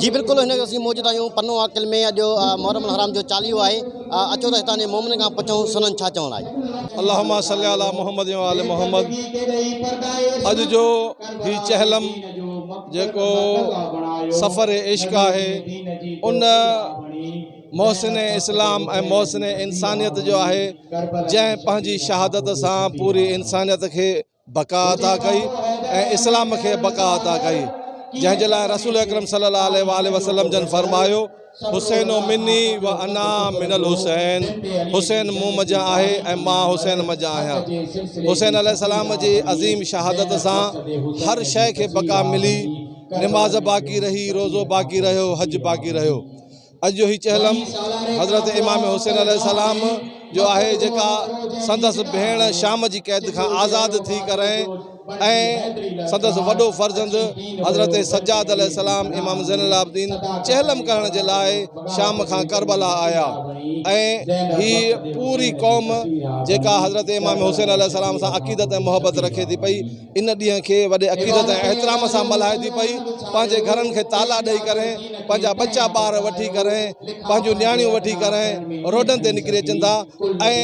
جي بلڪل هن اسين موجود آهيون پنو عاقل ۾ اڄ محرم الحرام جو چاليهو آهي اچو ته هتان جي مومن کان پڇون سندن ڇا چوڻ آهي اللهم صل علي محمد و آل محمد اڄ جو هي چهلم جيڪو سفر عشق آهي ان محسن اسلام ۽ محسن انسانيت جو آهي جنهن پنهنجي شهادت سان پوري انسانيت کي بقا عطا ڪئي ۽ اسلام کي بقا عطا ڪئي جنهن جي لاء رسول اڪرم صلي الله عليه واٰله وسلم جن فرمايو حسين مني و انا من الحسين حسين مون منجهان آهي ۽ مان حسين منجهان آهيان حسين عليه السلام جي عظيم شهادت سان هر شيء کي بقا ملي نماز باقي رهي روزو باقي رهيو حج باقي رهيو اڄ جو هي چهلم حضرت امام حسين عليه السلام جو آهي جيڪا سندس ڀيڻ شام جي قيد کان آزاد ٿي ڪرين ۽ سندس وڏو فرزند حضرت سجاد عليه السلام امام زين العابدين چهلم ڪرڻ جي لاء شام کان ڪربلا آيا ۽ هي پوري قوم جيڪا حضرت امام حسين عليه السلام سان عقيدت ۽ محبت رکي ٿي پئي ان ڏينهن کي وڏي عقيدت ۽ احترام سان ملهائي ٿي پئي پنهنجي گهرن کي تالا ڏئي ڪري پنهنجا ٻچا ٻار وٺي ڪري پنهنجون نياڻيون وٺي ڪري روڊن تي نڪري اچن ٿا ۽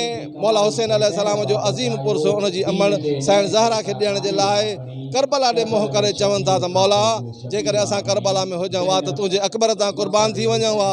مولا حسين عليه السلام جو عظيم پرس ان جي امڙ سائڻ زهرا کي ڏيڻ جي لاء ڪربلا ڏي منهن ڪري چون ٿا ته مولا جيڪڏهن اسان ڪربلا ۾ هجون ها ته تنهنجي اڪبر تان قربان ٿي وڃون ها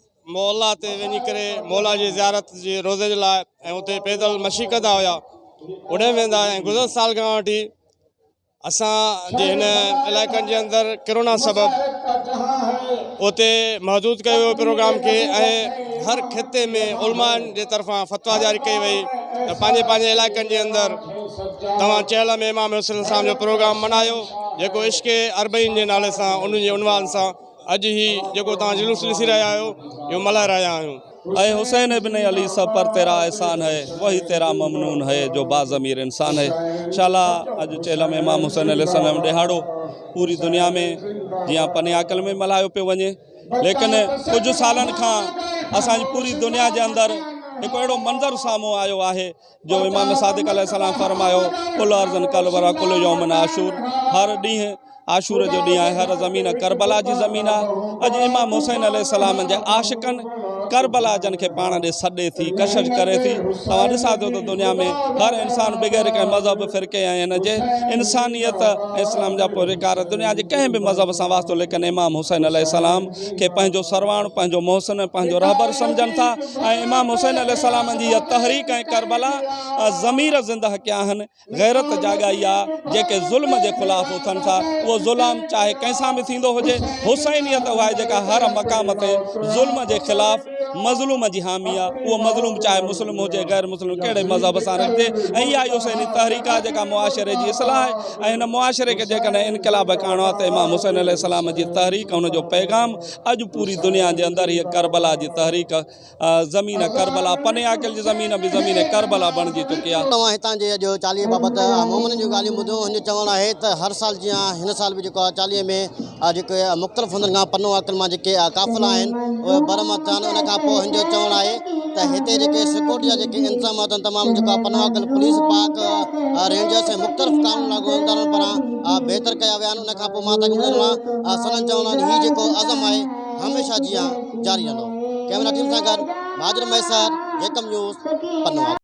معلا تي وڃي ڪري معلا جي زيارت جي روزي جي لاء ۽ اتي پيدل مشي ڪندا هيا اڏي ويندا ۽ گذر سال کان وٺي اسان جي هن علائقن جي اندر ڪرونا سبب اتي محدود ڪيو ويو پروگرام کي ۽ هر خطي ۾ علماء جي طرفان فتوا جاري ڪئي وئي ته پنهنجي پنهنجي علائقن جي اندر توهان چهل ۾ امام حسن اسلام جو پروگرام ملهايو جيڪو عشق اربعين جي نالي سان ان جي عنوان سان اڄ هي جيڪو توهان جلوس ڏسي رهيا آهيو، اهو ملهائي رهيا آهيون. اي حسين ابن علي سڀ پر تيرا احسان هي، وهي تيرا ممنون هي جو باضمير انسان هي. شالا اڄ چيلم امام حسين عليه السلام ڏيهاڙو پوري دنيا ۾ جيئن پني عاقل ۾ ملهايو پيو وڃي ليڪن ڪجهه سالن کان اسان جي پوري دنيا جي اندر هڪ اهڙو منظر سامهون آيو آهي جو امام صادق عليه السلام فرمايو ڪل ارضن ڪل ورا ڪل يومن عاشور هر ڏينهن عاشور جو ڏينهن آهي هر زمين کربلا جي زمين آهي اڄ امام حسين عليه السلام جي عاشقن کربلا جن کي پاڻ ڏي سڏي ٿي ڪشش ڪري ٿي توهان ڏسا ٿو ته دنيا ۾ هر انسان بغير ڪنهن مذهب فرقي ۽ هن جي انسانيت اسلام جا پوريڪار دنيا جي ڪنهن به مذهب سان واسطو ليڪن امام حسين عليه السلام کي پنهنجو سرواڻ، پنهنجو محسن ۽ پنهنجو رهبر سمجهن ٿا ۽ امام حسين عليه السلام جي اها تحريڪ ۽ ڪربلا ضمير زنده ڪيا آهن، غيرت جاڳائي آ، جيڪي ظلم جي خلاف اٿن ٿا، اهو ظلام چاهي ڪنهن سان به ٿيندو هجي، حسينيت اها آهي جيڪا هر مقام تي ظلم جي خلاف. مظلوم جي حامي آ اهو مظلوم چاهي مسلم هجي غير مسلم ڪهڙي مذهب سان رکجي ۽ اها ئي حسيني تحريڪ آ جيڪا معاشري جي اصلاح آهي ۽ هن معاشري کي جيڪڏهن انقلاب ڪرڻو آ ته امام حسين عليه السلام جي تحريڪ ان جو پيغام اڄ پوري دنيا جي اندر هيء ڪربلا جي تحريڪ زمين ڪربلا پني عاقل جي زمين به زمين ڪربلا بڻجي چڪي آ. توهان هتان جي اڄ چاليهي بابت مومنن جون ڳالهيون ٻڌيون هن جو چوڻ آهي ته هر سال جيان هن سال به جيڪو آ چاليهي ۾ آهي جيڪي مختلف هنڌن کان پنو آڪن مان جيڪي قافلا آهن اهي بر مان ٿيا آهن ان کان پوء هن جو چوڻ آهي ته هتي جيڪي سيڪيورٽي جا جيڪي انتظام اٿن تمام جيڪو آهي پنو آڪن پوليس پاڪ رينجرس ۽ مختلف قانون لاڳو ادارن پاران بهتر ڪيا ويا آهن ان کان پوء مان تاڪي ٻڌندو رهان سندن چوڻ آهي هي جيڪو عزم آهي هميشه جيان جاري رهندو ڪئميرا ٽيم سان گڏ مهاجر مهيسر جيڪم نيوز پنو آڪن